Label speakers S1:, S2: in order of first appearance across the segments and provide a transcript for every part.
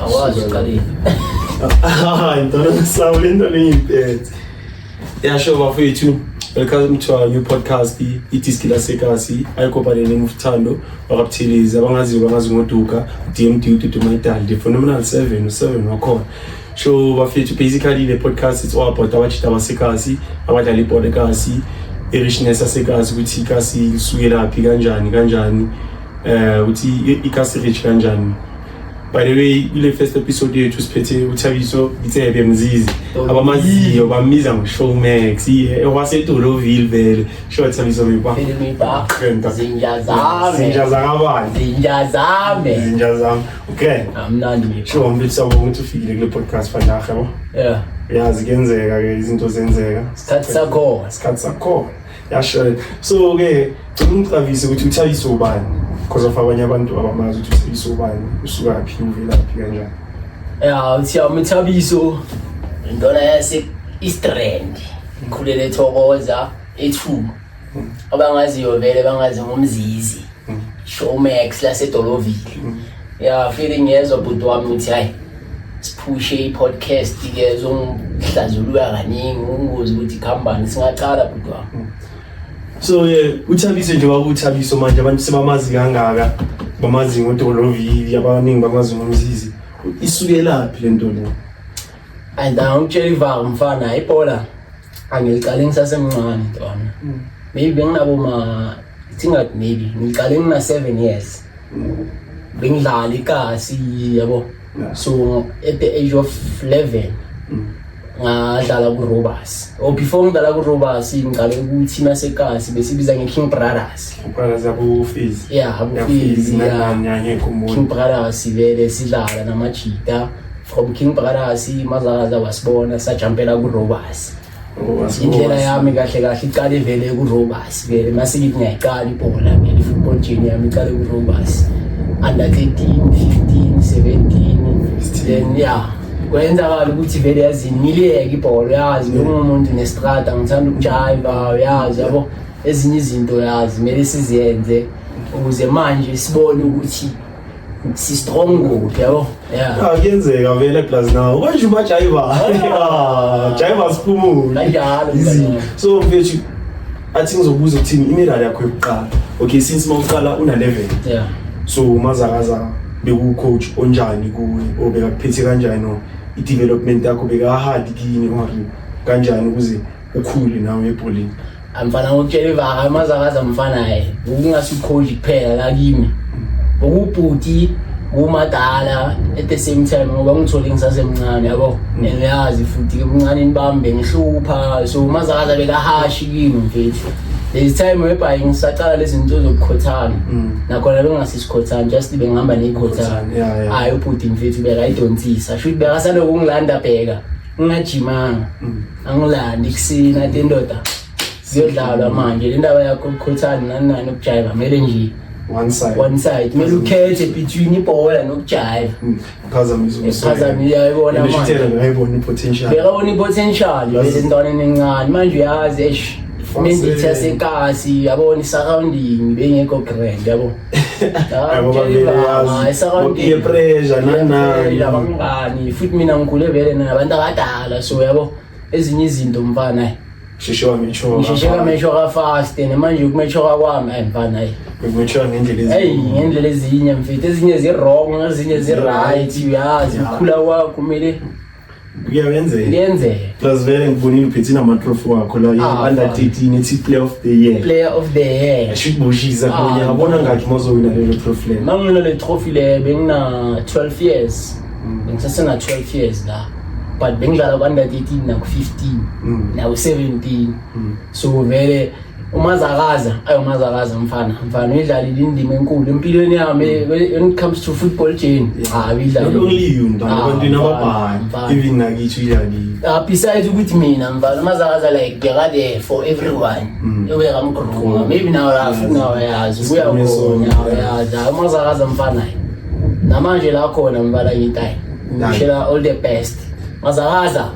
S1: Awazi uqalile.
S2: Hayi ntona ngisawu le nto leyiphethe. Yasho bafethu welcome to our new podcast idiski lasekasi ayikobhaleni ngumthando wakabuthelezi abangaziyo bangazi ngoduka dmd ududumaidal the phenomenal seven useven wakhona so bafethu basically le podcast it's all about abajita basekasi abadlala ibhola ekasi i-richness yasekasi ukuthi ikasi lisukelaphi kanjani kanjani um ukuthi ikasi rich kanjani by the way kule first episode yethu siphethe uthabiso itsebe mzizi abamaziyo bamiza ngoshowmax ewasedoloville vele sho thabiso zinja zami okay sho
S1: mfisa ukuthi
S2: ufikile kule podcast fandahe yabo yazi kuyenzeka ke izinto zenzeka isikhathi sakhona isikhathi sakhona yasho so ke cela ungicavise ukuthi uthayise ubani because of abanye abantu abamazi ukuthi uthayise ubani usukaphi uvelaphi kanjani ya uthiya umthabiso
S1: intona yase istrand ngikhulele thokoza ethu abangaziyo vele bangazi ngomzizi showmax lasedolovile ya feeling yezwa bhuti wami ukuthi hayi siphushe i-podcast ke zongihlazulula kaningi ungozi ukuthi khambani singaqala bhuti wami hmm. so
S2: ye uthabise nje wakuthabiso manje abantu sebamazi kangaka bamazi ngodolovili abaningi bamazi ngomzizi isukelaphi le nto le
S1: andangitshela ivanga mfana ibhola angiqale ngisasemncane ntwana mm. maybe benginabo ma thingathi maybe ngiqale ngina-seven years mm. bengidlala ikasi yabo so at the age of eleven mm. ngadlala kurobas or oh, before ngidlala kurobas ngiqale ukuthi nasekasi besibiza nge-king brothers
S2: ya abufizi
S1: king brothers vele sidlala namajita from king bhakarasi mazakaza wasibona sajampela kurobasi indlela yami kahle kahle iqale vele kurobasi vele masikithi ngiyayiqala ibhola vele i-football jeni yami iqale kurobasi under 13 15 17 then ya kwenzakala ukuthi vele yazi ngiliyeke ibholo yazi ngingumuntu nestrada ngithanda ukujayiva uyazi yabo ezinye izinto yazi kumele siziyenze ukuze manje sibone ukuthi si strong ngokuthi yabo yeah ah, kuyenzeka
S2: vele plus now manje uma jaiva ah, jaiva siphumule kanjalo izinto
S1: so mfethu
S2: athi ngizobuza ukuthini imiral yakho yokuqala okay since mawuqala una level yeah so mazakaza beku coach onjani kuwe obeka kuphethe kanjani no i development yakho beka hard kini or kanjani ukuze ukhule nawe ebholeni amfana ngokutshela
S1: ivaka amazakaza mfana ye ukungasikhonji kuphela la kimi ukubhuti kumadala at the same time ngoba ngithole ngisasemncane yabo mm. and uyazi futhi ebuncaneni bami bengihlupha so umazakaza bekahashi kimi mfethu there's time whereby ngisaqala lezi zinto zokukhothana mm. nakhona bengasesikhothana just bengihamba neyikhothana hayi ubhuti mfethu bekayidonsisa shuthi bekasaloku ngilanda bheka ngingajimanga mm. angilandi kusina ati ndoda ziyodlalwa manje le ndaba yakho ukukhuthana nani nani ukujayiva kumele nje one side one side kumele ukhethe between ibhola nokujayiva hmm. uphazamile yayibona manje yayibona ipotential
S2: yayibona ipotential
S1: bese ntwaneni encane manje uyazi eish mendithi yasekasi yabona i-surrounding bengekho grand yabo
S2: ngiye pressure nanani abangani
S1: futhi mina ngikhule vele nabantu abadala so yabo ezinye izinto mfana sheshe wametshoka ngisheshe kametshoka fast and manje ukumetshoka kwami ayi mfana ayi ukumetshoka ngendlela ezinye ayi ngendlela ezinye mfethu ezinye zi wrong ezinye zi right uyazi ukukhula kwakho kumele kuyawenzeka
S2: kuyenzeka plus vele ngibonile uphethina amatrofi wakho la ah, under 13 ethi player of the year player of the year ashibushiza ah, kunye ngabona ngathi mozowina lelo trophy lelo mangina le trophy le
S1: bengina 12 years mm. bengisasena 12 years la but bengidlala ku-under 13 naku-15 mm. naku-17 mm. so vele umazakaza ayi umazakaza mfana mfana uyidlalile indima enkulu empilweni yami when it comes to football jane hayi uyidlalile not only
S2: you mfana ah, abantu nababhayi even nakithi uyidlalile ah besides ukuthi mina
S1: mfana umazakaza like beka there for everyone mm. uya kamgruma maybe now lafu now yazi ubuya khona yazi umazakaza mfana namanje la khona mfana ngitayi ngishela all the best mazakaza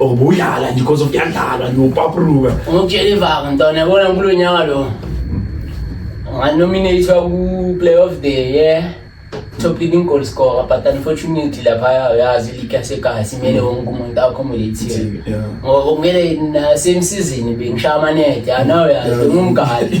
S2: Ubuyala nje because of yandlala nje upapruka. Ungitshela ivanga
S1: ntwana yabona kulo nyaka lo. Nganominate ku play of the year. Top leading goal scorer but unfortunately lapha uyazi league yasekhaya simele wonke umuntu accommodate. Ngoba kumele na same season bengishaya amanede. Anawe yazi ngumgadi.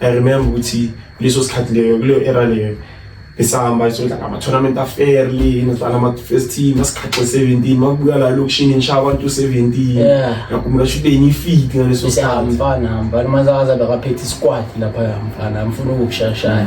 S2: I remember ukuthi kuleso sikhathi leyo kuleyo era leyo besihamba sodla ngama-tournament afairly inodlala ama-first team asikhaxe seventeen makubuya la lokishini nisha abantu seventeen ngakhumbula sho ubeni ifiti ngaleso sikhathi mfana mfana manzakaza
S1: bekaphethe isikwati laphaya mfana mfuna ukukushashaya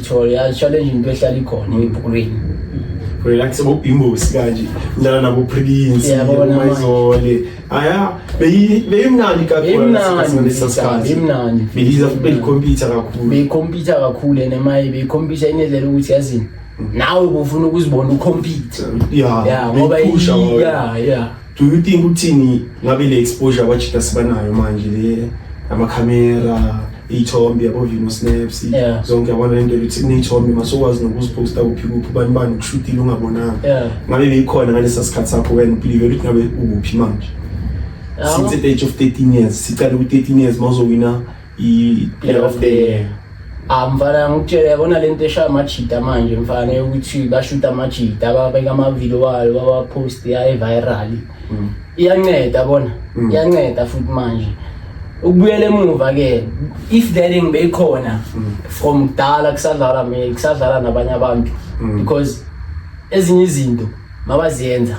S1: Tutorial challenge into ehlala ikhona ebhukulweni. Relax
S2: bo imbusi kanje. Ngidlala nabo Prince, Yabona manje. Mayizole. Aya, beyi beyimnandi kakhulu Beyimnandi, ngesikhathi lesa sikhathi.
S1: beyimnandi. Beyiza beyikhompyutha
S2: kakhulu. beyikhompyutha kakhulu and
S1: maye beyikhompyutha inedlela ukuthi yazini nawe bufuna ukuzibona ukhompyutha Yeah, ya ngoba beyiphusha i- wawe. ya ya
S2: Do you think uthini ngabe le exposure wajita sibanayo manje le ama camera iyithombe yabo vino snaps Yeah. zonke yabona lento yokuthi niyithombe masokwazi nokuziposta kuphi kuphi ubani bani ukushutile ungabonanga Yeah. ngabe beyikhona ngalesa sikhathi sakho wena uplive ukuthi ngabe ukuphi manje since the age of 13 years siqale ku-13 years mawuzowina i-player of the year Ah mfana
S1: ngikutshele yabona lento eshaya amajida manje mfana yokuthi bashuta amajida babeka amavidiyo wayo bawapost yaye viral mm. iyanceda bona mm. iyanceda futhi manje ukubuyela emuva ke if that thing beyikhona mm. from kudala kusadlala me kusadlala nabanye abantu because ezinye izinto mabaziyenza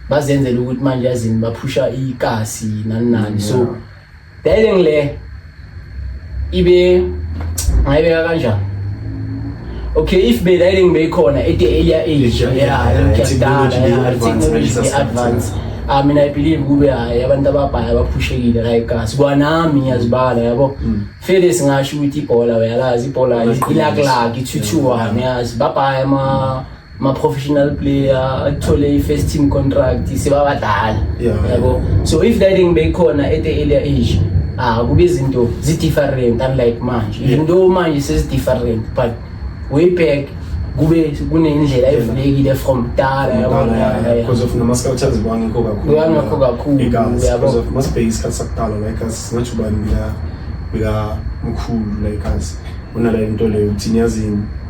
S1: bazenzela ukuthi manje yazini baphusha ikasi nani nani so yeah. Bedding le ibe ngayibeka kanjani? Okay, if bedding beyikhona at the earlier age, yeah, yeah, technology, yeah, technology advance. I mean, I believe kube hayi abantu ababhaya baphushekile like us. Kwanami ngiyazibala yabo. Mm. Fele singasho ukuthi ibhola uyalazi ibhola ilaklaki ithuthuwane yazi babhaya ama ma-professional player athole i-first team contract sebabadala yabo so if that thing beyikhona at the earlier age ah kube izinto zi-different unlike manje even though manje sezi-different but way back kube kunendlela evulekile from kudala yabonbecause of nama-scout
S2: aziwa ngekho kakhulungakho kakhulu yabo masibheke isikhathi sakudala like as singatsho ubani bika mkhulu like as unala into leyo uthini yazini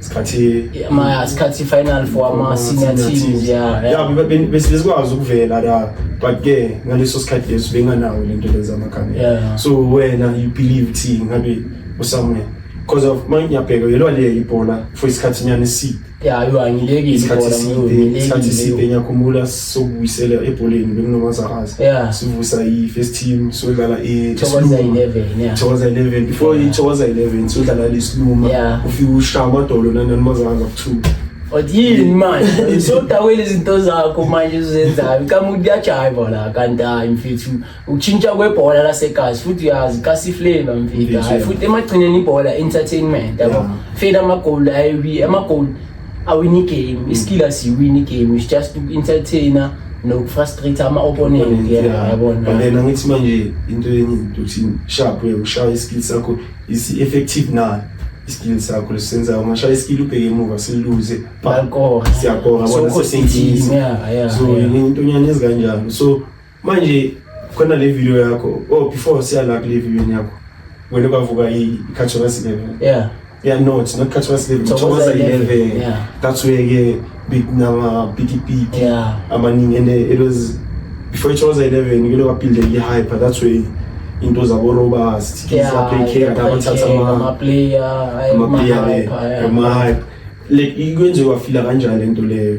S2: isikhathi Yeah, ma sikhathi
S1: final for ama senior teams yeah. ya bebe- bese
S2: besikwazi ukuvela la but ke ngaleso sikhathi leso benganawo lento leza amakhanda Yeah. so wena you believe thi ngabe usamwe because of manje ngiyabheka yelwa le ibhola for isikhathi nyane si Yeah, yo angileki
S1: isikhathi ibhola, side ngileki
S2: isikhathi nje. side ngiyakhumbula sobuyisela ebholeni bekunomazakazi yeah. sivusa i-first team sodlala ithokoza 11 yeah. thokoza 11 before yeah. ithokoza 11 sodlala lesiluma yeah. ufike ushaya amadolo nananimazakazi akuthuma yini
S1: manje sodawela izinto zakho manje uzenzayo kamuti kuyajayiva la kanti hayi mfethu ukushintsha kwebhola lasegazi futhi uyazi kasifleva mfika hayi futhi emagcineni ibhola entertainment yabo fela amagoli ayi amagoli awini game iskill asiwini game is just to entertainer nokufrustrate ama opponent yabona wena ngithi manje
S2: into enye ukuthi sharp ushaya iskill sakho is effective na iskill sakho lesenza ungashaya iskill ubheke emuva siluze balkora
S1: siyakora bona
S2: sesiyinkinga so into nyane ezikanjalo so Manje khona le video yakho oh before siyala kule video yakho wena bavuka ikhathoka sibebe yeah yeah no it's not khathoka sibebe thokoza 11 yeah that's where ke big nama big big yeah amaningi and it was before it was 11 ngilo kaphinde ngi hyper that's where into zabo robust yeah play care abathatha ama player ama player ama hype like ikwenziwa fila kanjani lento leyo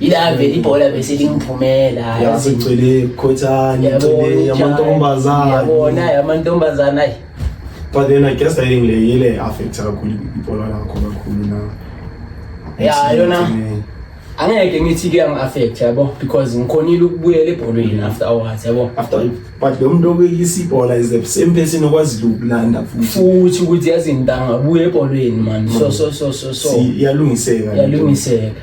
S1: ila vele ibhola bese lingiphumela yasigcwele
S2: khothani igcwele yamantombazana yabona yamantombazana
S1: ayi but
S2: then i guess i think le ile affect kakhulu ibhola lakho kakhulu na ya yona
S1: angeke ngithi ke ang affect yabo because ngikhonile ukubuyela ebholweni after hours yabo after but lo muntu
S2: okuyisa ibhola is the same person okwazi ukulanda futhi futhi ukuthi
S1: yazi ngidanga buye ebholweni man so so so so so yalungiseka yalungiseka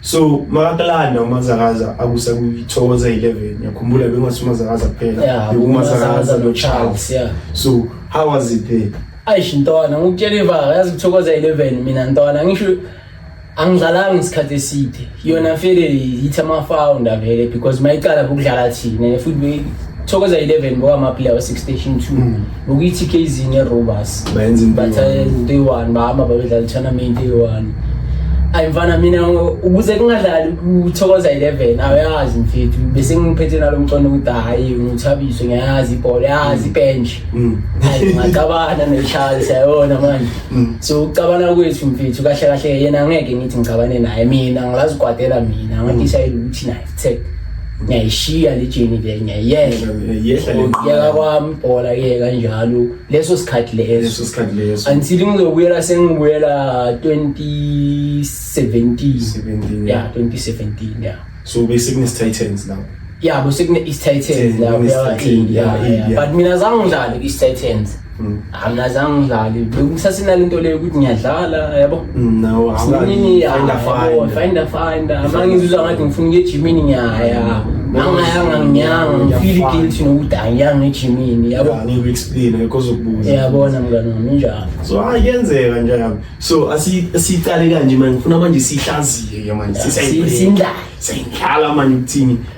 S2: so makakulanda umazakaza akusa kuyithokoza 11 yakhumbula bengase umazakaza kuphela Yeah, bekumazakaza umazakaza no charles yeah. so how was it there ayish ntwana ngikutshela
S1: ivaka yazi kuthokoza 11 mina ntwana ngisho angidlalanga isikhathi eside yona vele yithi amafounder vele because mayicala bokudlala thina futhi be- thokoza 11 ngokwamaplayer we-six station two ukuthi KZ neRobas bayenza izinto
S2: eyi-one
S1: bahamba babedlala i-tournament eyi-one ayi mfana mina ukuze kungadlali kuthokoza 11 awayazi mfethu bese ngiphethe nalo mcono ukuthi hayi ngithabiswe ngiyayazi ibhola yazi ibench mm. hayi ngacabana neshali sayona manje mm. so ucabana kwethu mfethu kahle kahle yena ngeke ngithi ngicabane naye mina ngilazi kwadela mina ngathi mm. sayile ukuthi naye Tech ngiyayishiya le journey vele ngiyayiyeka Yehla le ngiyeka kwami ibhola ke kanjalo leso sikhathi leso leso sikhathi leso until ngizobuyela sengibuyela 2017 17 yeah 2017 yeah so bese kune
S2: Titans now yeah bese kune East
S1: Titans Titans, now kune East yeah, Titans, yeah, yeah, yeah, yeah. yeah. but mina zange ngidlale East Titans angazange ngidlale bekusasenani into leyo ukuthi ngiyadlala yabo
S2: finda
S1: finda mangizuza ngathi ngifuna ukuya ejimini ngiyaya angayanga nginyanga ngifile guilty nokuthi angiyanga ejimini yaboniyabona
S2: mngane wami
S1: injalo so hayi kuyenzeka
S2: njalo so asiyiqale kanje manje ngifuna manje siyihlaziye ke manje siyindlala siyindlala manje ukuthini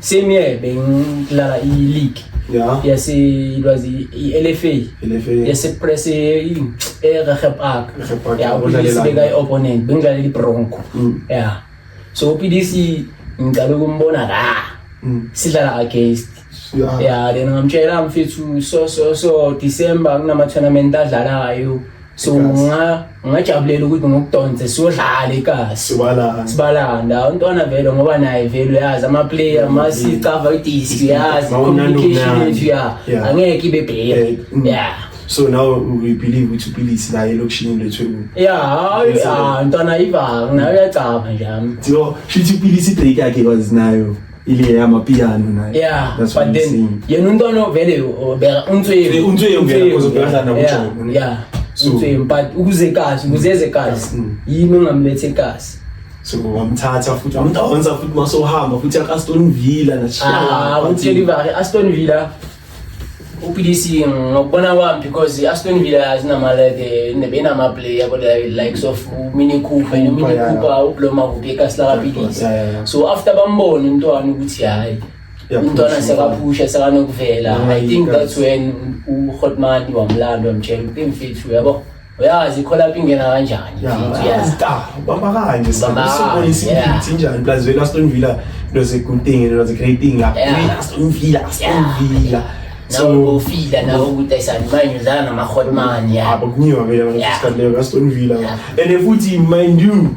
S1: same year bengidlala i-league yeah yes it was i-LFA LFA yes press in eRegep Park yeah ubudlalisa beka i-opponent bengidlalela iBronco mm. yeah so uPDC ngiqale ukumbona la mm. sidlala against yeah yeah then ngamtshela mfethu so so so December kunama tournament adlalayo so nga ngajabulela ukuthi ngokudonse siyodlala ikasi sibalana sibalanda untwana vele ngoba naye vele uyazi ama player masi cover idisi uyazi communication yethu ya angeke ibe bheke mm. yeah so
S2: now we believe ukuthi uphilisi la elokishini lethu yeah hayi ah
S1: ntwana ivanga nayo uyacaba nje ami so shithi uphilisi
S2: break yakhe kwazinayo ile ya mapiano na yeah that's but then
S1: yena umntwana vele ubeka untswevu untswevu
S2: ngeke uzobhekana nakuthi yeah untswevu
S1: but ukuze kazi ukuzeze kazi mm. yini ongamlethe kazi so
S2: wamthatha futhi wamdonsa futhi masohamba futhi akaston villa na chiyala ah uthi
S1: live aston villa uPDC ngokubona kwami because iAston Villa azinamale indebe inama player kodwa likes of Mini Cooper no Mini Cooper uBloma kuphi eKasla kaPDC so after bambona umntwana ukuthi hayi umntwana sekaphusha sekanokuvela i think that's when uHotman wamlanda wamtshela ukuthi mfethu yabo uyazi ikholapha ingena kanjani
S2: bambakanye sibonisa imphithi njani plus vele aston villa into is a good thing into is a great thing aston villa aston villa nawo
S1: ufila nawo ukuthi ayisani manje udlala namahotman yabo kuningi
S2: vele aston villa and futhi mind you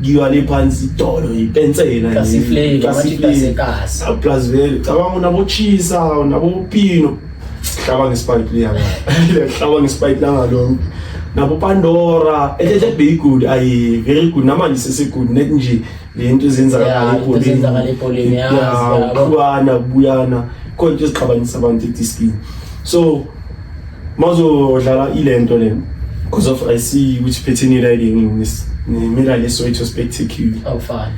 S2: ngiwa le phansi idolo ipensela kasifleki kasifleki
S1: plus vele
S2: cabanga unabochisa unabopino hlaba ngespike liya hlaba ngespike langa lo nabo Pandora ehle be good ayi very good namanje sese good net nje lento ezenzakala ebholeni
S1: yazi yabona
S2: buyana konke esiqhabanisa abantu etiskin so Mawuzodlala ile nto le because of I see ukuthi phethini la ile ngimela le Soweto Spectacular. Awufani.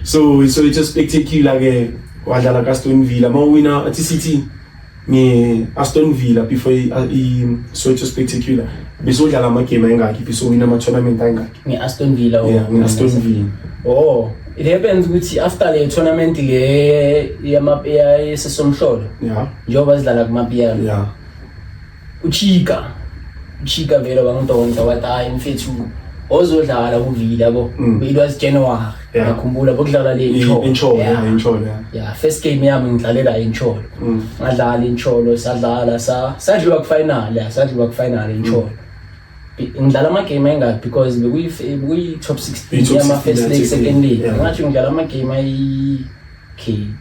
S1: So iSoweto
S2: Spectacular ke wadlala ka Aston Villa mawuwina athi City nge Aston Villa before iSoweto Spectacular besodlala amagame ayingakhi besowina ama-tournament ayingakhi nge-aston villa yeah,
S1: nge-aston villa
S2: oh it happens
S1: ukuthi after le tournament le yesesomhlolo njengoba sidlala kumapiyano yeah. uchika uchika vele wangidonsa wathi hayi mfethu ozodlala kuvila bo Mm. it was january Yeah. ngakhumbula bokudlala le Incholo. Incholo, Yeah. yeah, Incholo,
S2: yeah. yeah first game
S1: yami ngidlalela incholo Mm. ngadlala incholo sadlala sa sadliwa kufinal yeah sadliwa kufinal incholo Be- ngidlala amagame ayingaki because bekuyi bekuyi top 16 Iyi-top yama 16 first leg yathi, second leg yeah. ngathi ngidlala amagame ayi okay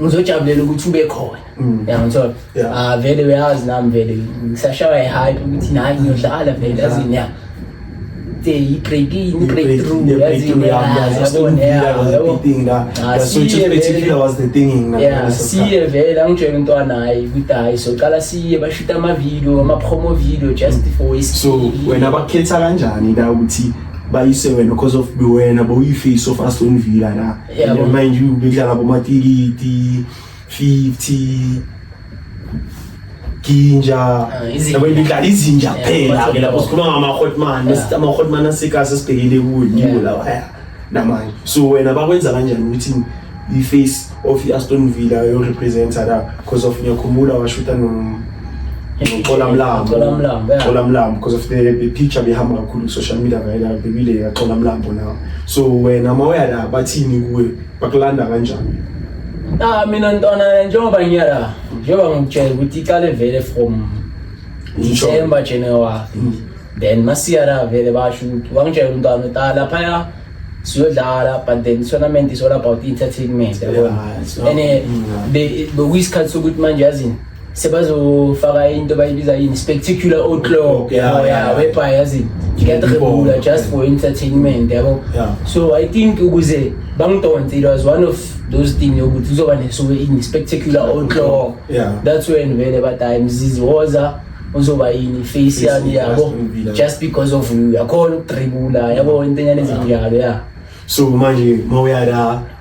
S1: ngizojabulela ukuthi ube khona mm. yangithola ah vele uyazi nami vele ngisashaywa i-hype ukuthi nayi ngiyodlala vele yazini ya i-breaking i-breakthrough yazini ah, siye vele angitshela umntwana hayi ukuthi hayi soqala siye bashute amavidiyo ama-promo video just mm. for so wena
S2: bakhetha kanjani la ukuthi bayise wena because of wena boyifisi of aston villa la Yeah, And mind you, bekudlala bomatikiti 50 ginja Ah, izinja. yabo ibidlala izinja Yeah, kuphela ke lapho kubathobako. sikhuluma ngama-hotman Yeah. ama-hotman asika sesibhekele kuwo ngiwo Yeah. lawa ya namanje so wena bakwenza kanjani ukuthi i-face of i-aston villa yorepresenta la because of ngiyakhumbula washuta no- Xola Mlambo. Xola Mlambo, yeah. Xola Mlambo because of the the picture behamba kakhulu ku social media vayela bebile ya Xola Mlambo now. So wena mawuya la bathini kuwe bakulanda kanjani? Ah mina
S1: ntwana njengoba ngiya la njengoba ngikutshela ukuthi iqale vele from Ngisho. December January. Mm. Then masiya la vele basho ukuthi wangitshela umntwana ukuthi ah laphaya siyodlala but then tournament is all about entertainment yabo. Yeah, it's not- And eh, Mm. be- bekuyisikhathi sokuthi manje yazini sebazofaka into bayibiza yini spectacular outlaw yabo ebha yazi ngiyadrebula just for entertainment yabo so i think ukuze bangidonse it was one of those thing yokuthi kuzoba nesuke ini spectacular outlaw that's when vele badayi mzizi woza uzoba yini face yani yabo just because of you yakhona ukudrebula yabo into enyane ezinjalo ya so manje
S2: mawuyala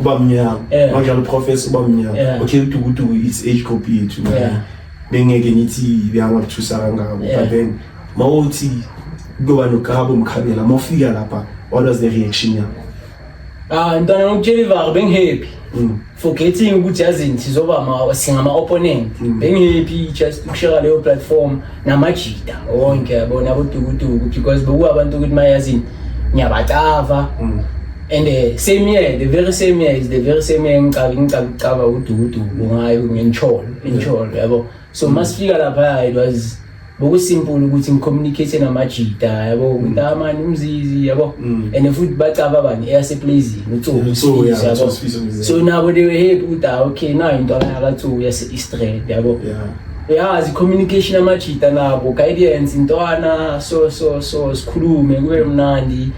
S2: uba mnyama yeah. manjalo uprofesa uba mnyama yeah. okay udukuduku it's age group yethu yeah. bengeke ngithi beyangakuthusa kangako yeah. but then mawuthi kuyoba nokabo mkhabela mawufika lapha what was the reaction yakho ah ntwana ngokutshela ivaka
S1: bengihappy mm. forgetting ukuthi yazini sizoba singama-opponent mm. bengihappy just ukusheka leyo platform namajita wonke yabona abodukuduku because bekuwa abantu ukuthi mayazini ngiyabacava mm. and uh, same year the very same year is the very same year ngicaba ngicaba ngicaba udukuduku ngayo ngencholo incholo yabo so mm. masifika lapha it was bokusimple ukuthi ngicommunicate namajita yabo mm. ukuthi amani ah, umzizi yabo mm. and futhi bacaba bani eyase plays utsobi so yabo so nabo they were happy ukuthi ah, okay na into yakatsobi yase east yabo yazi yeah, communication amajita nabo guidance intwana so so so sikhulume kube mnandi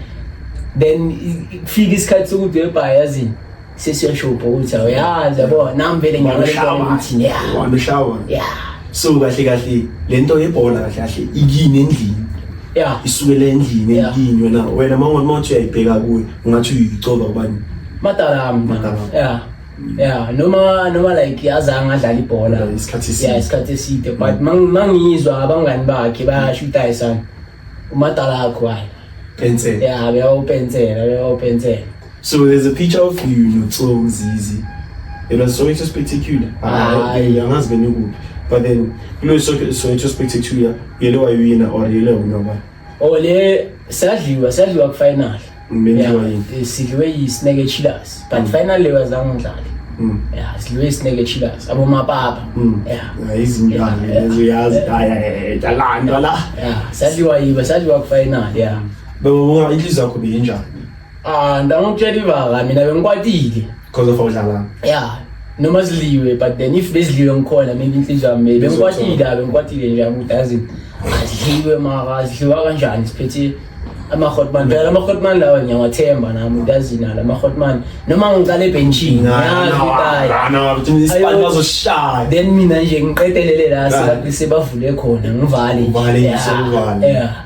S1: then kufika isikhathi sokuthi webha yazini sesiyashopha ukuthi awuyazi yabo nami vele ngiyakuthi ya uhambe
S2: shower ya so kahle kahle le nto yebhola kahle kahle ikini endlini ya isukele endlini endlini wena wena mawungathi uyayibheka kuyo ungathi uyicoba kubani madala yami madala
S1: ya yeah noma noma like yazange adlala ibhola isikhathi eside yeah isikhathi eside but mm. mangizwa abangani bakhe bayashuta isana umadala akho hayi pensela yeah beyawupensela beyawupensela so there's a
S2: picture of you noTsomi Zizi it was so spectacular ah, hayi angazi benikuthi but then kulo so spectacular yele wayuyina or yele unobani Oh le
S1: sadliwa sadliwa ku final. Menziwa yini? Eh, sidliwe yi Snake Chillers. But mm. final leyo azange ngidlale. Mm. Yeah, sidliwe Snake Chillers. Abo mapapa. Mm. Yeah.
S2: Izingane lezo yazi haya jalanda la. Yeah, sadliwa yiba
S1: sadliwa ku final. Yeah. Baba unga
S2: inhliziyo yakho beyinjani? Ah, ndangokutshela
S1: ivaka mina bengikwatile. Because of
S2: awudlala. Yeah. Noma
S1: ziliwe but then if beziliwe ngikhona maybe inhliziyo yami maybe ngikwatile la ngikwatile nje ukuthi azi aziliwe mara aziliwa kanjani siphethe ama hotman phela ama hotman lawa ngiyawathemba nami uyazi nalo ama hotman noma ngiqala ebenchini ngiyazi ukuthi hayi isibani
S2: bazoshaya then mina nje
S1: ngiqedelele la sebavule khona ngivale ngivale ngisho ngivale yeah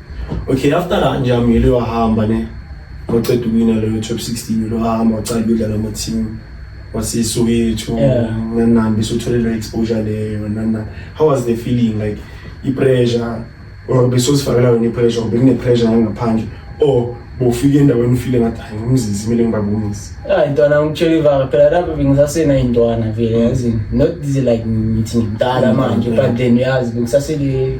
S1: okay after
S2: kanje amile wahamba ne waqeda ukwina leyo top 16 lo hamba wacala ukudlala ama-team wasesoweto Yeah. nanani besothole leyo exposure leyo nanani how was the feeling like i-pressure or besozifakela yona i-pressure or bekune-pressure nangaphandle or bofika endaweni ufile ngathi hayi ngumzizi kumele ngibabonise hayi ntwana ngitshela
S1: ivaka phela lapho bengisaseyintwana vele yazini not this like ngithi ngimdala manje but then uyazi bengisasele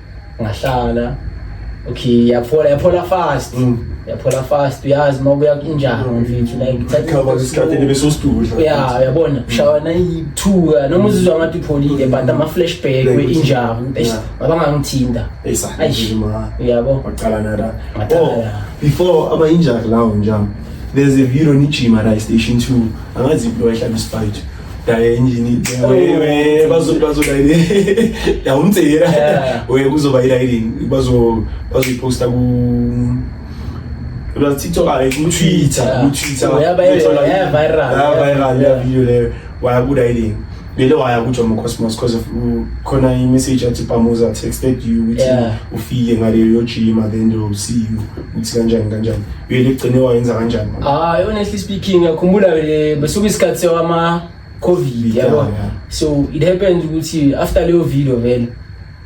S1: ngahlala okay yaphola yaphola fast mm. yaphola fast uyazi uma kuya kunjani mm. mfethu like ngithatha isikhathi ngibe
S2: sositudla yeah uyabona mm. shawana
S1: ithuka noma uzizwa ngathi upholile but ama flashback we injani bese abangangithinta uyabo waqala nara
S2: oh before aba injani lawo njani there's a video ni gym at station 2 angazi impilo wayihlaba isifight daye injini wewe bazo bazo daye ya umtsira wewe kuzoba ilayini bazo bazo iposta ku Because TikTok are like Twitter, yeah. Twitter. Oh, yeah, viral, like, yeah, viral, yeah, viral, yeah, video there. Why good idea? Lelo waya kutsho mu Cosmos because of khona i message athi Pamuza texted you ukuthi ufike ngaleyo gym and then they'll see you. Uthi kanjani kanjani. Yini igcine wayenza kanjani? Ah, honestly
S1: speaking, ngiyakhumbula vele besuka isikhathi sewama COVID yabo. Yeah, yeah. So it happened ukuthi after leyo video vele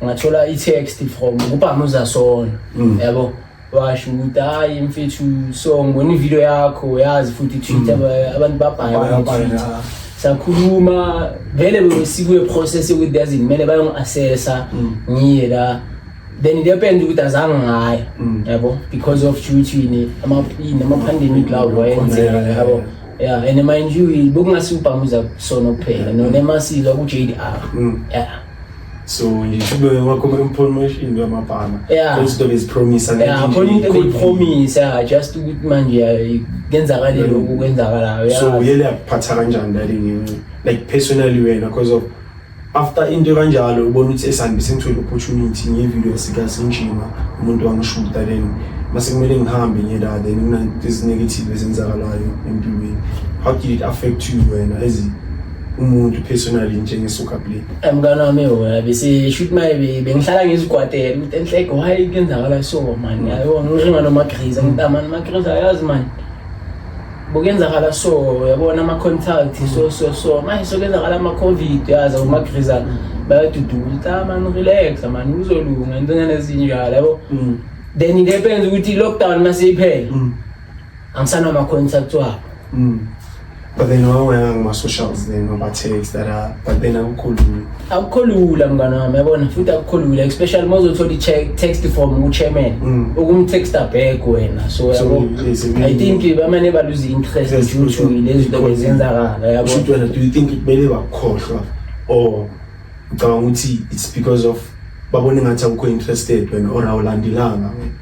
S1: ngathola i-text from ubhama uzasona mm. yabo washo ukuthi hayi mfethu so ngibona ivideo yakho yazi futhi twitter mm. abantu babhaya sakhuluma vele besikuye process yokuthi yazi kumele bayongi-assessa mm. ngiye la then the happens ukuthi azange ngayo mm. yabo because of shutini ama-pandemic lawo wayenzeka yabo yeah and mind you bekungasi ubhamuza kusona kuphela mm. nonemasilo ku-j d r mm. yeah
S2: so ngithibe wakhoma information yamabhana izinto
S1: bezipromisa
S2: khona into beyipromisa
S1: ya just ukuthi manje kenzakale lokhu kwenzakalayo so yele yakuphatha
S2: kanjani that like personally wena because of after into kanjalo ubona ukuthi esandibe sengithole opportunity ngevideo sikasinjima umuntu wangishuta then mase kumele ngihambe ngiye la then kunanto ezinegative ezenzakalayo empilweni how did it affect you wena as umuntu personally njengesoka play eh, mngane wami wona
S1: bese shoot my bengihlala ngizikwatela ukuthi enhleke why kenzakala so man yayo ngisho ngano magriza ngitama magriza yazi man bokuyenzakala so yabona ama-contact so so so manje sokuyenzakala ama-covid yaza umagrizana bayaduduka ukuthi ah mani relax mani kuzolunga intonyana ezinjalo yabo mm. then into epenza ukuthi i-lockdown masiyiphela mm. angisanama-contact wabo mm.
S2: but then wawena ngama-socials then waba-text that uh, but then akukhulumi akukho
S1: lula mngane wami yabona futhi akukho lula especially uma uzothola i-text from uchairman mm. ukumtexta back wena so yabo i think bamane baluze i-interest due to lezi zinto bezenzakala yabona do you think kumele
S2: bakhohlwa or ucabanga ukuthi it's because of babona ingathi awukho interested wena or awulandelanga wena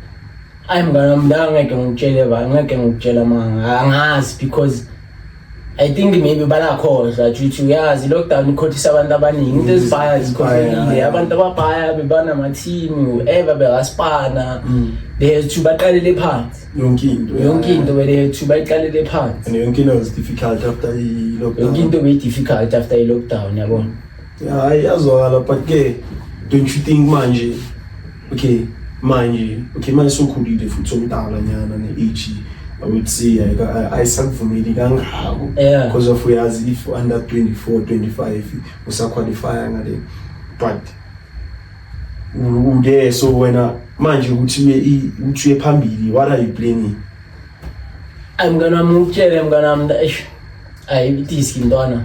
S2: ayi
S1: mngane wami la ngeke ngikutshele ba ngeke ngikutshela manga angazi because I think maybe banakhohlwa juthi uyazi lockdown ikhothisa abantu abaningi into ezibhaya zikhohlekile abantu ababhaya bebanamathini ever bekaspana mm. they have to baqalele phansi yonke into yonke into they have to bayiqalele phansi and yonke into was difficult
S2: after i lockdown yonke into be difficult
S1: after i lockdown yabona hayi yazwakala
S2: but ke don't you think manje okay manje okay manje sokhulile futhi somdala nyana ne-age I would say ayisakuvumeli kangako because of uyazi if under 24 25 usaqualifya ngale but ude so wena manje ukuthi ukuthi uye phambili what are you planning
S1: ay mngane wami ngikutshele mngane wami eish Ayi idiski mntwana.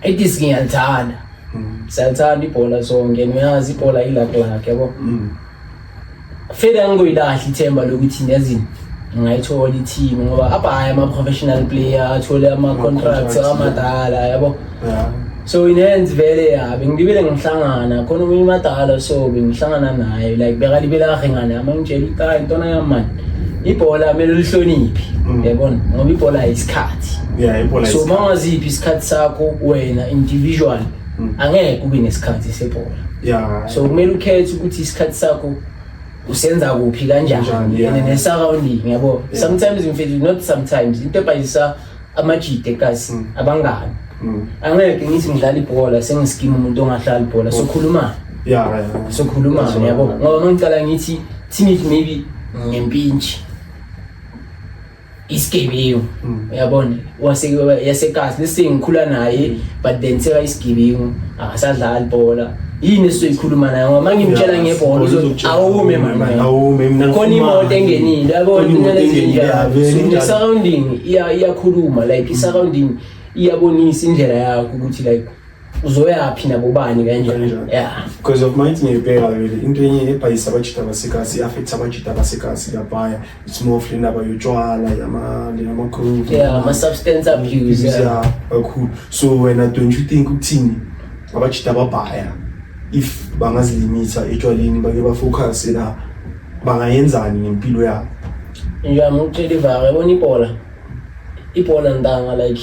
S1: Idiski ngiyalithanda. Mm. Siyathanda ibhola sonke. Niyazi ibhola ilakhe lakhe yabo. Mm. Feda ngikuyilahla ithemba lokuthi nezini ngayithola i-team ngoba abhaye ama-professional player athole ama-contracts amadala yabo so inenzi vele ya bengilibele ngihlangana khona omunye umadala so bengihlangana naye like bekalibele kahle ngane ama ngitshela ukuthi hayi ntwana yami mani ibhola kumele ulihloniphi Mm. yabona ngoba ibhola yisikhathi yeah ibhola so uma ungaziphi isikhathi sakho wena individual Mm. angeke ube nesikhathi sebhola yeah so kumele ukhethe ukuthi isikhathi sakho usenza kuphi Kanjani, kanjani yeah. and ne-surrounding yabo Yeah. sometimes mfethu not sometimes into ebhayisa amajide kazi mm. abangani mm. angeke ngithi ngidlala ibhola sengisikima umuntu ongahlali ibhola sokhuluma yeah sokhuluma yabo ngoba mangicala ngithi teenage maybe ngempintshi isigebengu mm. uyabona wasekasi lesi ngikhula naye but then seka isigebengu akasadlali bhola yini esizoyikhuluma nayo ngoba mangimtshela ngebhola uzothi awume mama awume mina khona imoto engenile yabona inyana ezinjalo surrounding iyakhuluma like i surrounding iyabonisa indlela yakho ukuthi like uzoyaphi nabo bani kanjani yeah because
S2: of my ngibheka vele into enye ebhayisa abajita abasekhasi i-affect abajita abasekhasi labaya it's more of indaba yotshwala yama-group yeah ama-substance
S1: abuse yeah kakhulu
S2: so wena don't you think ukuthini abajita ababhaya if bangazilimitha etshwaleni bake bafocuse la bangayenzani ngempilo yabo nje
S1: amukutshela ivaka yabona ibhola ibhola ntanga like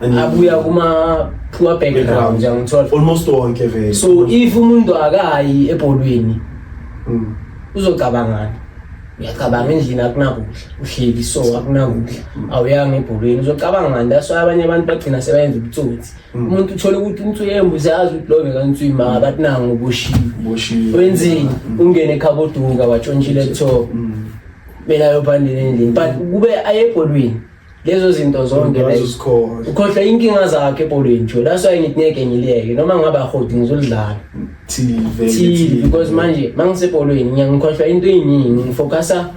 S1: abuya kuma poor background ngiyangithola almost wonke vele
S2: so if umuntu
S1: akayi ebholweni mm. uzocabangana uyacabanga endlini akunakudla uhleli so akunakudla mm. awuyanga ebholweni uzocabanga ngani that's why abanye abantu bagcina sebayenza ubutsotsi mm. umuntu uthole ukuthi umuntu uyembuzi yazi ukuthi love kanti uyimanga but nangu uboshiwe wenzeni mm. ungene ekhaboduka watshontshile kuthiwa mina yobhandile endlini but kube ayebholweni lezo zinto zonke ukhohlwa inkinga zakhe ebholweni jo that's why ngithi ngeke ngileke noma ngabe ahodi ngizolidlala tv because manje uma ngisebholweni ngiyangikhohlwa into eyiningi ngifocusa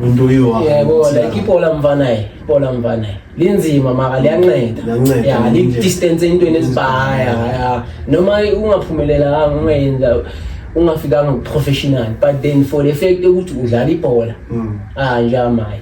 S1: into
S2: yebo like
S1: ibhola mfanaye ibhola mfanaye linzima maka liyanceda ya lidistance entweni ezibaya ya noma ungaphumelela ungayenza ungafikanga professional but then for the fact ukuthi udlala ibhola mm. ah njamaye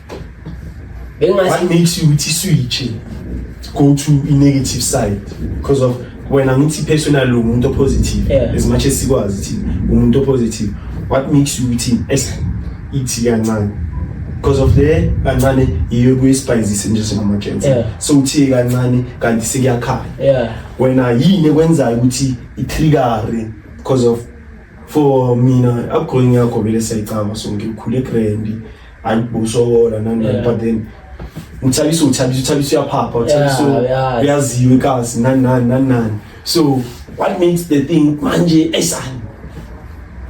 S2: What makes you ukuthi switch go to a negative side because of when I'm ngithi personal lo muntu positive yeah. as much as sikwazi ukuthi umuntu positive what makes you ukuthi ithi kancane because of the kancane yiyo kuyisibhayizise nje singamajensi yeah. so uthiye kancane kanti sekuyakhala yeah. wena yini ekwenzayo ukuthi itrigare because of for mina upgrowing yakho vele siyayicaba sonke ukhule grandi hayi busokola nani Yeah. but then uthabisa uthabisa uthabisa uyaphapha uthabisa Yeah, yeah. uyaziwe kazi nani nani nani nani so what makes the thing manje esani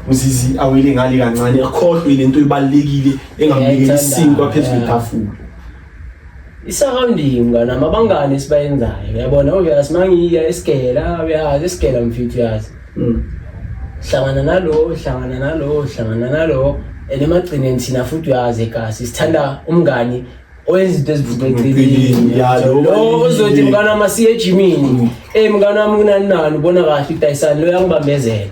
S2: mzizi awele ngale kancane akhohlwe le nto ibalulekile engamlekeli Ngiyayithanda, isinkwa phezu yeah. kwetafula isurrounding
S1: ngana mabangane esibayenzayo uyabona obvious mangiya esigela uyazi esigela mfithu uyazi Mm. hlangana nalo hlangana nalo hlangana nalo and emagcineni thina futhi uyazi egasi sithanda umngani owenza izinto ezivuka eceleni Ya, lo lo ozothi obalulekile. mngani wami asiye ejimini eyi mngani wami kunani nani ubona kahle idayisani lo yangibambezela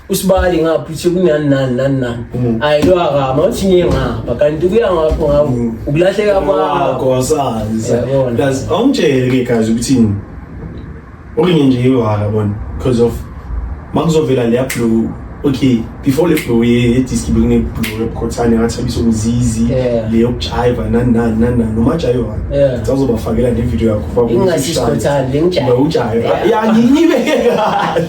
S1: usibali ngapha uthi kunani nani nani nani mm. ayi lo akama uthi ngiye ngapha kanti kuya ngapho ngawo mm. ukulahleka kwakho wasazi
S2: plus awungitshele ke guys ukuthi okunye nje iwala bona because of makuzovela leya blue okay before le blue ye diski bekune blue ebukhothane ngathabisa umzizi le yokujayiva nani nani nani nani noma jayiva sazobafakela ne video yakho ingasisikhothane le
S1: ngijayiva ujayiva ya
S2: ngiyibeke kahle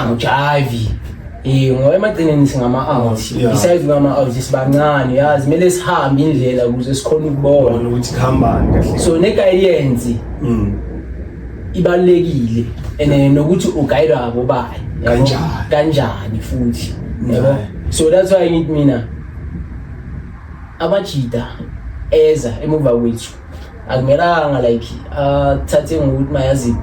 S1: angijayivi Eh ngoba emagcineni singama-out Yeah. besides ngama-out sibancane yazi kumele sihambe indlela ukuze sikhone ukubona Bona ukuthi kuhambani
S2: kahle. so negayidensi
S1: Mm. ibalulekile and eh, nokuthi ugayidwa abobani yabo? Kanjani? kanjani futhi yabo Right. so that's why ngithi mina amajida eza emuva kwethu akumelanga like athathe uh, ngokuthi mayazi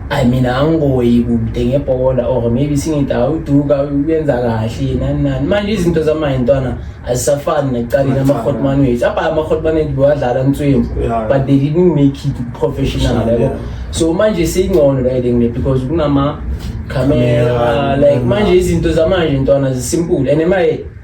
S1: I mean angiboyi kude ngebhola or maybe singithi awuduka uyenza kahle nani nani manje izinto zamanje ntwana azisafani nekuqaleni ama-hotman wethu apha ama-hotman wethu bewadlala nswembu but they didn't make it professional yabo so manje seyingcono riding le because kunama-camera like manje izinto zamanje ntwana zisimpule and emaye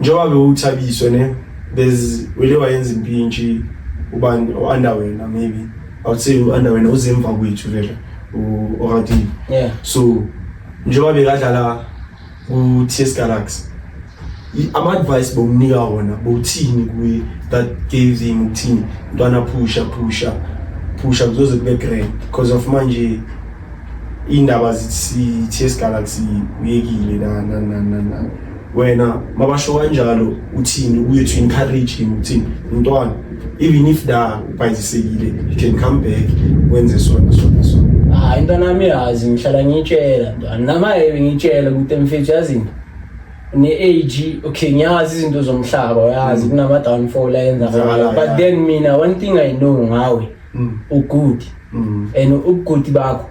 S2: njengoba bewuthabiswe ne there's wele wayenza impintshi ubani o-under wena maybe i would say u-under wena uzemva kwethu vele u-oradive yeah. so njengoba bekadlala ku-ts galaxy ama-advice bowunika wona bowuthini kuye that gave him ukuthini mntwana phusha phusha phusha kuzoze kube grand because of manje iy'ndaba zithi-ts galaxy uyekile na na na na na wena mabasho kanjalo uthini ubuye to encourage him uthini mntwana even if da ubhayizisekile you can come back wenze sona sona sona hayi ah, mntwana
S1: wami yazi ngihlala ngiyitshela mntwana namaye ngiyitshela ukuthi mfethu yazi into ne-age okay ngiyazi izinto zomhlaba uyazi mm. kunama-downfall ayenzakalayo but then mina one thing i know ngawe mm. ugood mm. and ubugood bakho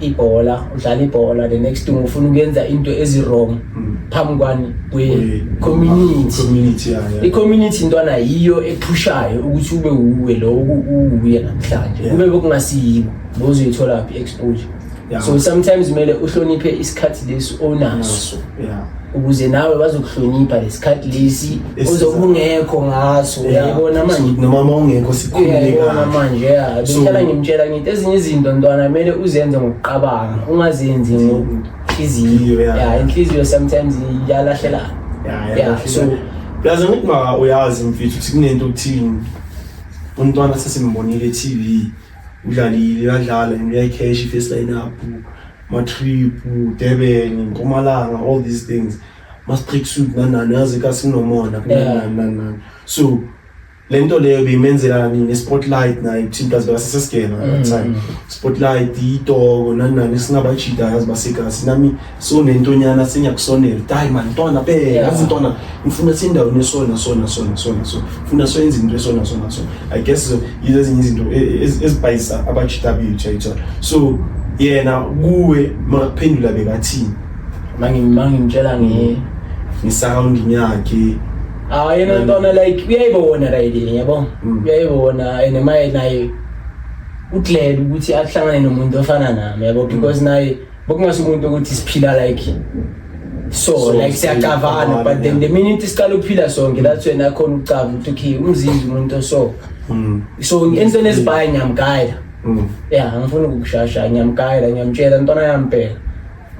S1: ibhola udlala ibhola the next thing ufuna ukuyenza into ezi-wrong mm. phambi kwani kwe-community i-community intwana yiyo ephushayo ukuthi ube wuwe lo uwuye namhlanje kube bekungasiyiwo bozoyitholaphi i-exposure so sometimes kumele uhloniphe isikhathi lesi onaso yeah. ukuze nawe bazokuhlonipha lesikhathi lesi ozobungekho ngaso uyayibona manje noma mawungekho
S2: sikhululekana manje ya
S1: ngihlala ngimtshela ngithi ezinye izinto ntwana kumele uzenze ngokuqabanga ungazenzi ngenhliziyo ya inhliziyo sometimes iyalahlelana ya so plus ngithi
S2: maka uyazi mfethu ukuthi kunento okuthini umntwana sesimbonile e-TV udlalile uyadlala and uyayicash i-first line up matrip Durban Mpumalanga all these things must break suit nanani yazi ka sinomona kunani nanani so lento leyo beyimenzelani ne spotlight naye thina kazi base sesigena at mm. time spotlight itoko nanani singaba cheat yazi base kasi nami so nentonyana sinyakusonela dai man ntwana be yazi ntwana ngifuna sindawo nesona sona sona sona so funa soyenza into esona sona so i guess yizo ezinye izinto e, e, ezibhayisa abajita bethu yayithola so yena kuwe makuphendula bekathini mangimtshela
S1: nge
S2: ngisound yakhe ah yena
S1: ntona like uyayibona right yabo mm. uyayibona and maye naye uglad ukuthi ahlangane nomuntu ofana nami yabo mm. because naye Bokungasho umuntu ukuthi siphila like so, so like siyacavana but then the minute siqala ukuphila sonke that's when akhona ukucava ukuthi okay umzimba umuntu oso mm. so entweni ezibhaye ngiyamgayela mm. ya angifuni ukukushasha ngiyamgayela ngiyamtshela ntwana yampela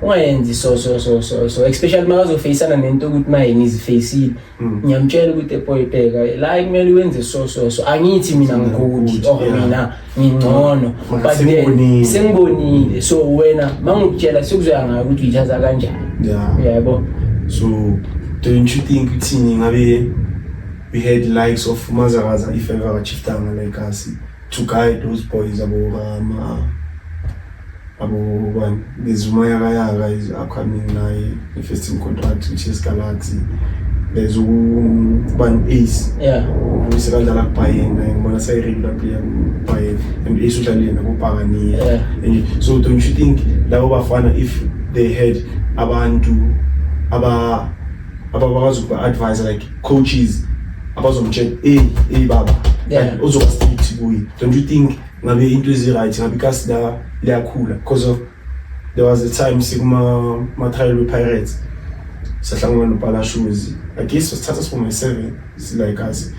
S1: ungayenzi so so so so so especially makazofeyisana nento ukuthi naye ngizifeyisile Mm. ngiyamtshela ukuthi epoyibheka la kumele wenze so so so angithi mina ngigudi or mina ngingcono but then sengibonile so wena mangikutshela sikuzoya ngayo ukuthi uyichaza kanjani
S2: yebo
S1: so
S2: don't you think ukuthi
S1: ngabe
S2: we had likes of mazakaza if ever achieved like us to guide those boys abo kama abo bani ngizuma yaka yaka is upcoming naye the first team contract which is Galaxy there's ubani ace yeah uvuyise
S1: kanjalo
S2: akubhayeni naye ngibona sayiregula player kubhayeni and ace udlale yena kubhakaniye yeah. and so
S1: don't you think
S2: labo bafana if they had abantu aba ababakwazi ukuba advise like coaches abazomtshela hey hey baba yeah. uzoba
S1: strict
S2: kuye don't you think ngabe into ezi-right ngabe ikasi la liyakhula because of there was a time sikuma-trial we-pirates sahlangana nopalashoes i guess wasithatha sibonga i-seven Silayikazi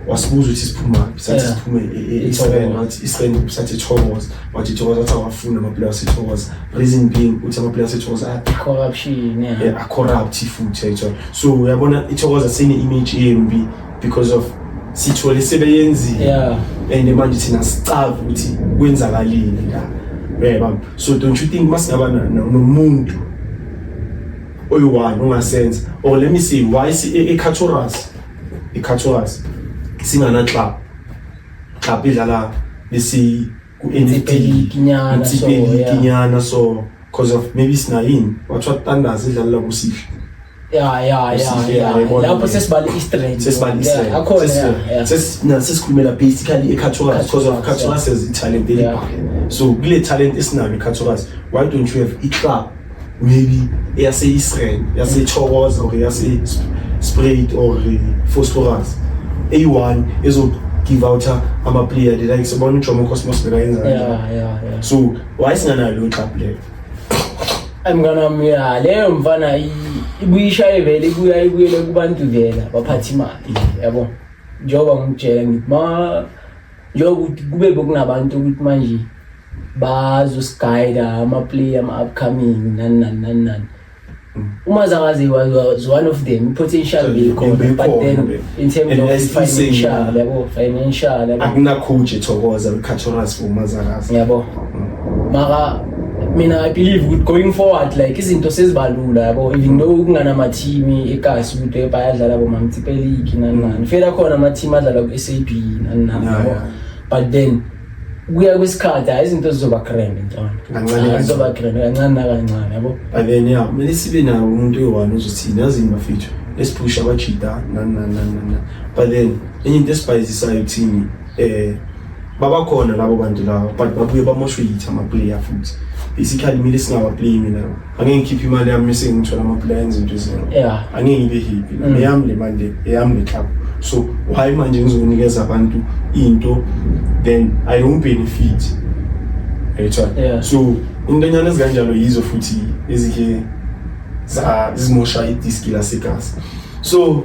S2: wasibuza ukuthi siphuma sathi Yeah. siphume e- e- Ithokoza. eSpend wathi iSpend sathi ithokoza wathi ithokoza wathi awafuni amaplayer asethokoza reason being ukuthi amaplayer asethokoza a- Corruption, yeah.
S1: eh, a-corrupt
S2: futhi ayithola so uyabona ithokoza sine-image embi because of sithole sebeyenzile Yeah. and manje thina sicava ukuthi kwenzakalile la uyayibamba so don't you think masingaba na- na- nomuntu oyi-one ongasenza or let me see why i-caturas i-caturas singanaclub club idlala besi ku-ntinyana so because of maybe sinayini wathiwa tandazi idlalela kusihle ya ya ya
S1: lapho sesibala i-strength sesibala i-strength akhona sesina sesikhulumela
S2: basically e-caturas because of caturas has i-talent elibhaka so kule talent esinayo e-caturas why don't you have i-club maybe eyase-israel yase-chokoza or yase-sprayed or phosphorus eyi-one ezogive out ama-player the likes ubona ujomo cosmos bekayenzayo so why singanayo leyo club leyo ayi mnganami ya
S1: leyo mfana ibuyishaye vele ibuya ibuyele kubantu vela baphatha imali yabo njengoba ngikutshela ngithi ma Njengoba ukuthi kube bekunabantu ukuthi manje bazosigayida ama-play ama-upcoming nani nani nani nani uma zangazi was one of them potential bekhona but then in terms of financial yabo financial yabo akunakhunje
S2: thokoza ukhathoras uma zangazi yabo
S1: maka mina i believe ukuthi going forward like izinto sezibalula yabo even though kungana ama team eKasi ukuthi bayadlala bo Mamtsipe League nani nani fela khona ama team adlala ku SAB nani nani yabo but then kuya kwesikhathi hayi izinto zizoba grand ntwana kancane zizoba grand kancane nakancane yabo but then yeah kumele
S2: sibe nawo umuntu oyi-one uzothini yazi yini bafethu esiphusha abajida nani nani nani nani but then enye into esibhayizisayo kuthini eh babakhona labo bantu labo but babuye bamoshwe yithi amaplayer futhi isikhathi kumele singawaplayi mina angeke ngikhiphe imali yami mese ngithola amaplayer enza into ezinto yeah angeke ngibe happy mm. neyami le mali le eyami le club so why manje ngizonikeza abantu into then i don't benefit right yeah. so intonyana ezikanjalo yizo futhi ezike zizimosha idiski lasegazi so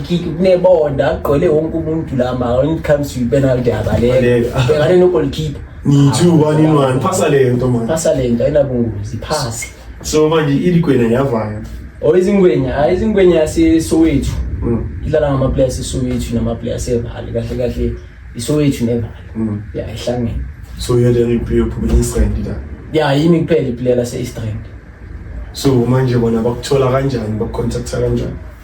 S1: kick kunebonda agqwele wonke umuntu la ma when it comes to penalty yabaleka bhekane no goalkeeper ni two one
S2: in one phasa le nto manje phasa le nto ayinabungozi phasa
S1: so manje
S2: iligwenya yavaya or oh, izingwenya hayi
S1: izingwenya yasesowethu mm. idlala ngamaplayer asesowethu namaplayer asevale kahle kahle isowethu nevale mm. ya ihlangene so you're the
S2: replay of East End la ya yimi kuphela iplayer
S1: lase East End so
S2: manje bona bakuthola kanjani bakucontacta kanjani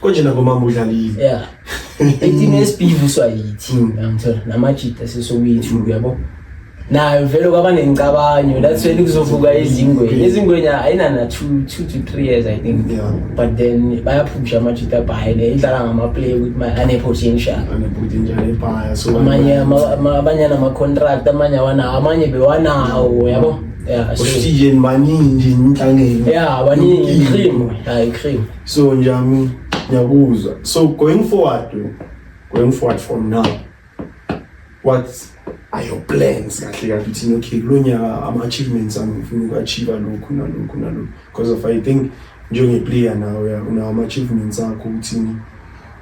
S1: konje
S2: nangomama udlalile yeah ethini
S1: esibhivuswa yithi hmm. ngithola namajita sesokuyithu hmm. uyabo nayo vele kwaba nencabanyo that's when kuzovuka izingwenya izingwenya ayinana two two to three years i think yeah. but then bayaphusha amajita abhayile idlala ngamaplay ukuthi ma anepotential amanye
S2: abanye
S1: anamacontract amanye awanawo amanye bewanawo yabo yeah, so, ushiye
S2: maningi inhlangene yeah baningi cream hayi
S1: cream
S2: So Njami, ngiyakuzwa. So
S1: going
S2: forward, going forward from now, what are your plans kahle kahle uthini okay kulo nyaka ama-achievements ami ngifuna uku-achieve lokhu nalokhu nalokhu because of i think njengeplayer nawe unawo ama-achievements akho uthini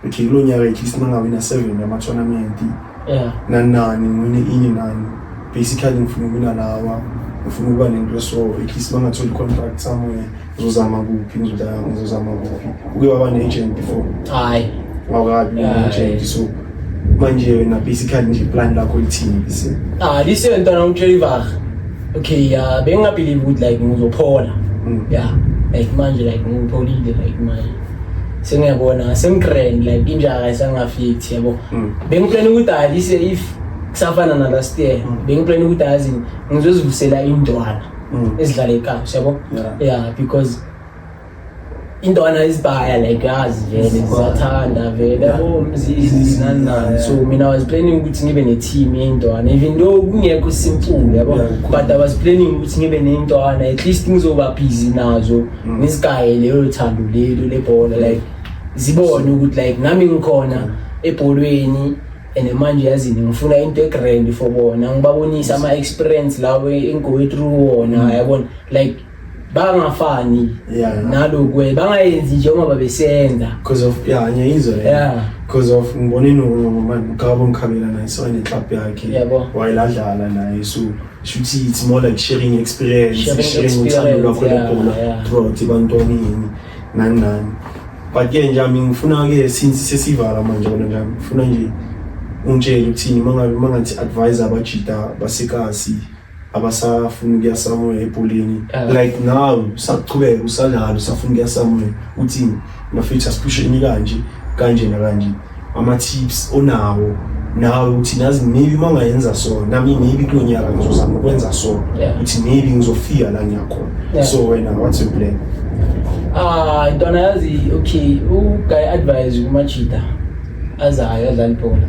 S2: okay kulo nyaka at least mangawina seven yama-tournament yeah. nanani ngwine inye nani basically ngifuna ukuwina lawa ngifuna ukuba nento so at least bangatholi contract somewhere ngizozama kuphi ngizozama kuphi uke waba ne-agent before hayi wakabi ne-agent so manje wena basically nje plan lakho lithini bise ah lise ntwana
S1: umtshela ivaha okay yeah bengingabelieve ukuthi like ngizophola Mm. yeah like manje like ngipholile like manje sengiyabona sengitrend like injaka isangafit yabo Mm. bengiplane ukuthi alise if kusafana na last year bengiplane ukuthi azi ngizozivusela indwana Mm. ezidlala ekhaya yabo Yeah. yeah because intwana isibaya like yazi vele siyathanda vele yabo mzizinanani so mina I was planning ukuthi ngibe ne-team yey'ntwana even though kungekho simculo yabo but I was planning ukuthi ngibe ney'ntwana at least ngizoba busy nazo mm. ngisigaye leyo thando lelo lebhola like zibone ukuthi like nami ngikhona mm. ebholweni and manje yazini ngifuna into egrand for bona ngibabonise ama-experience lawo engowethrough wona mm. yabona like bangafani yeah, yeah. nalokwe bangayenzi njengoba babesenza because of yeah
S2: ngiyizwa yeah because of ngibone nomama ngabo ngikhabela naye so ene club yakhe yebo wayeladlala naye so shuthi it's more like sharing experience sharing, sharing uthando lwakho lebhola throughout ibantwana yini nani nani but ke nje mina ngifuna ke since sesivala manje kona nje ngifuna nje ungitshele ukuthini mangabe mangathi advisor abajita basekasi abasafuna ukuya somewhere ebholeni uh, like now saqhubeka usadlala usafuna ukuya somewhere uthini mafethu asiphusheni kanje kanje nakanje ama-tips onawo nawe ukuthi nazi maybe uma ungayenza so nami maybe kulo nyaka ngizozama ukwenza so ukuthi maybe ngizofika la ngiyakhona so wena what's your plan ah
S1: ntwana yazi okay uguy advise kumajida azayo adlala ibhola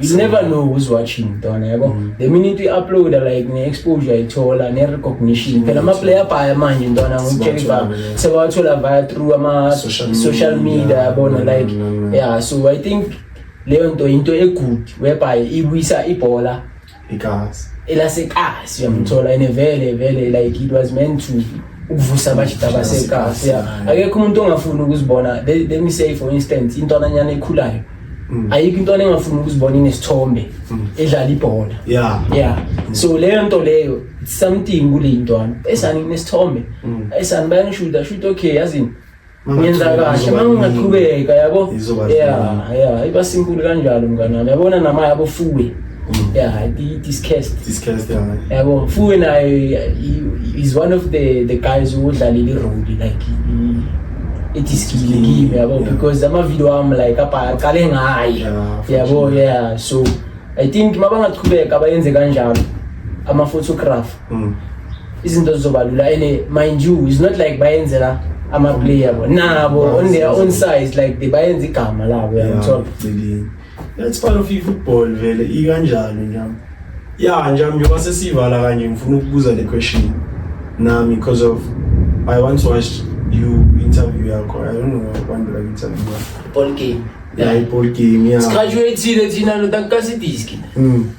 S1: you never know who's watching mntwana yabo mm. the minute you upload like ne exposure ithola ne recognition phela ama player baya manje mntwana ngikutshela ba sewathola via through ama social media yabona mm, like mm, yeah so i think leyo nto into egood whereby ibuyisa ibhola Ikazi. Elasekasi uyamthola ene vele vele like it was meant to ukuvusa abajita basekasi. Yeah. Akekho umuntu ongafuni ukuzibona. Let, let me say for instance intonanyana ekhulayo. Mm. ayikho into engafuni ukuzibona inesithombe mm. edlala ibhola yeah yeah mm. so leyo nto leyo something kuleyintwana esani kunesithombe esani bayangishuda shuthi okay yazini ngenza kahle uma ungaqhubeka yabo ya ya iba simple kanjalo mngane wami yabona nama yabo fuwe mm. ya discast discast yabo fuwe naye is one of the the guys who udlalile irole like etisikilekile mm. yabo because amavideo am like apha aqale ngaye yabo yeah so i think mabangaqhubeka bayenze kanjalo ama-photograph mm. izinto zizoba lula and mind you is not like bayenzela amaplayer yabo nabo on their own size like they bayenza igama labo yangithola that's
S2: part of football vele ikanjalo njami ya njami njengoba sesiyivala kanje ngifuna ukubuza le question nami because of i once watched you interview yakho i don't know abantu like interview ball game yeah, yeah
S1: ball game
S2: yeah sigraduatile thina
S1: lo takasidiski mm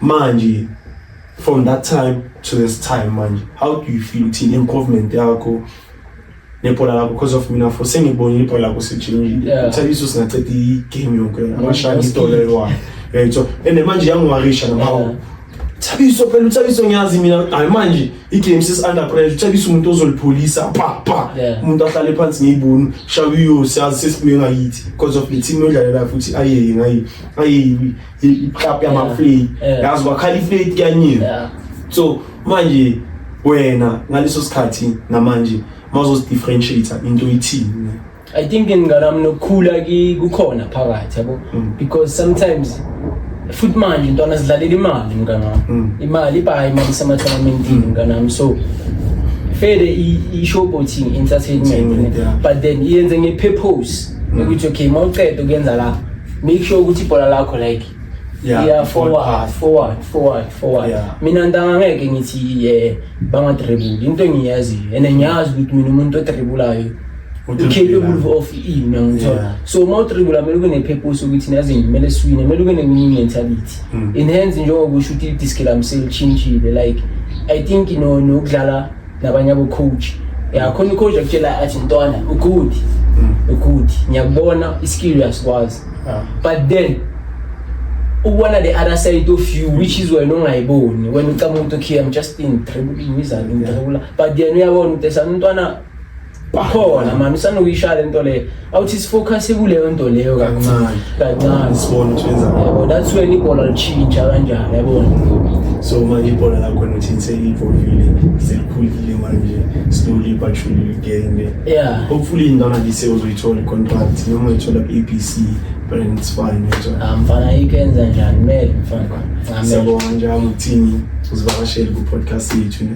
S2: manje from that time to this time manje how do you feel thina improvement yakho nebhola lakho because of mina for sengibonile ibhola lakho sejinjile Yeah. uthabiso singaceda igame yonke amashaya that's idola good. eliwayo right so and then manje yangiwarisha Yeah. nabawo thabiso phela uthabiso ngiyazi mina hayi manje igame sis-under pressure uthabiso umuntu ozolipholisa pa pa Yeah. umuntu ahlale phansi ngiyibuni shawiyo siyazi sesibuye ngayithi because of le team yodlalela futhi ayeye ngayi ayeyiwi iklabhu yamafleti eh. yazi kwakhala ifleti kuyanyini so manje wena ngaleso sikhathi namanje mawuzozidifferentiate into ithini i think
S1: nginganami nokukhula kukhona phakathi yabo mm. because sometimes futhi manje ntwana zidlalela imali mngane wami mm. imali ibhayi imali isematholamentini mm. mngane wami so fede i-showboating entertainment but then iyenze nge-purpose ukuthi okay ma uceda ukuyenza lapha make sure ukuthi ibhola lakho like Yeah, yeah forward forward forward forward, forward. Yeah. mina ntanga ngeke ngithi ye bangadribula into engiyaziyo and ngiyazi ukuthi mina umuntu odribulayo ucapable of ina ngithola so uma utribula kumele ube ne-purpose ukuthi naze kumele siwine kumele ube ne-winning mentality mm. in hands njengoba usho ukuthi i-disc lami selishintshile like i think you know nokudlala nabanye abo coach yakhona ucoach akutshela athi ntwana ugood mm. ugood ngiyakubona iskill uyasikwazi ah. but then ukubona the other side of you which is wena ongayiboni wena ucama ukuthi okay i'm just in trouble ngizalo ngidabula but yena uyabona ukuthi esamntwana bakhona mani usanokuyishaya lento leyo awuthi sifocus kuleyo nto leyo kancane kancane sibone ukuthi wenza
S2: yabo that's when ibhola
S1: lichitsha kanjani yabona so manje
S2: ibhola lakho nothinseki ivovile selikhulile manje slowly but surely getting there yeah hopefully ingana lise uzoyithola contract noma ithola ABC but it's fine ah, mfana ikenza
S1: njani mele mfana siyabonga njalo
S2: uthini uzivakashele ku podcast yethu ne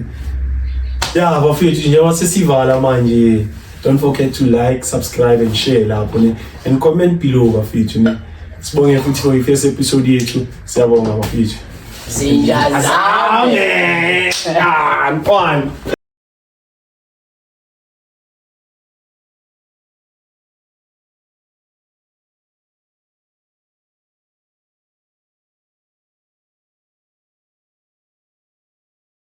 S2: ya bafethu njengoba sesivala manje don't forget to like subscribe and share lapho ne and comment below bafethu ne sibonge futhi for ifirst episode yethu siyabonga bafethu zinja
S1: zame
S2: ah mfana